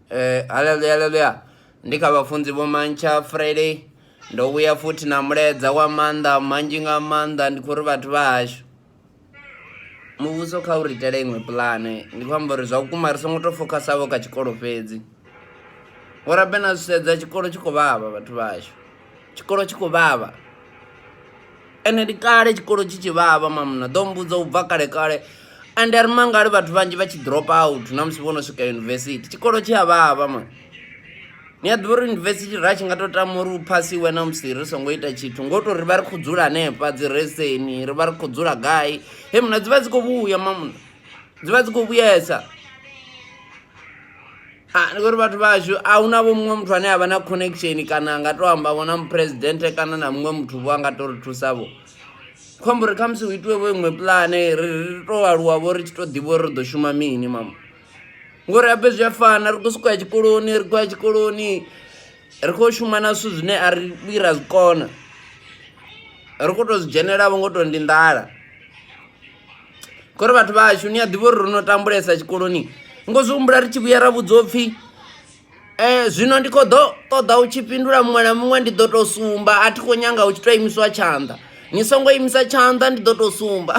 Eh, haleluya haleluya ndi kha vhafunzi vho mantsha friday ndo vhuya futhi na mulaedza wa maanḓa manzhi nga maanḓa ndi khou ri vhathu vha hashu muvhuso kha u ri itele iṅwe pulane ndi khou amba uri zwa vhukuma ri songo tou fokhasavho kha tshikolo fhedzi ngori abe na zwi sedza tshikolo tshi khou vhavha vhathu vha hashu tshikolo tshi khou vhavha ende ndi kale tshikolo tshi tshi vhavha mamuna ḓo mmbudza u bva kale kale ende ri mangali vhathu vhanzhi vha tshi drop out na musi vho no swika yunivesithi tshikolo tshi a vhavha ma ni a ḓivha uri yunivesithi ra tshi nga tou tama uri u phasiwe na musi ri songo ita tshithu ngo tou ri vha ri khou dzula hanefha dzi reseni ri vha ri khou dzula gai he muna dzi vha dzi khou vhuya mamuna dzi vha dzi khou vhuyesa Ha, ndi khori vhathu vhashu a hu na vho muṅwe muthu ane a vha na connection kana a nga to amba vho na muphuresidennde kana na muṅwe muthu vho a nga to ri thusa vho khombo ri khamusi hu itiwe vho iṅwe pulane ri ri to aluwa vho ri tshi to ḓivha uri ri ḓo shuma mini mama ngori habe zwi a fana ri khou sokou ya tshikoloni ri khou ya tshikoloni ri khou shuma na zwithu zwine a ri vhuyi ra zwi kona ri khou to zwi dzhenelavho ngo to ndi nḓala ngori vhathu vha hashu ni a ḓivha uri ro no tambulesa tshikoloni ngo zwi humbula ri tshi vhuya ra vhudzwa upfhi um zwino ndi khou ḓo ṱoḓa u tshi fhindula muṅwe na muṅwe ndi ḓo tou sumba a thi khou nyanga u tshi tou imiswa tshanḓa ni songo imisa tshanḓa ndi ḓo tou sumba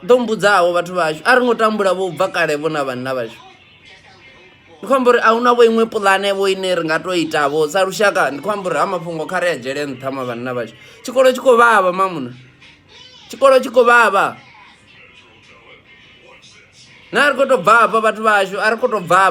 ḓo mbudzaho vhathu vhashu a ri ngo tambula vho bva kale vho na vhanna vhashu ndi khou amba uri a hu na vho iṅwe puḽane vho ine ri nga tou itavho sa lushaka ndi khou amba uri ha mafhungo kha ri a dzhele nṱha ma vhanna vhashu tshikolo tshi khou vhavha mamuṋa tshikolo tshi khou vhavha na ri khou tou bvafha vhathu vhashu a ri khou tou bvafha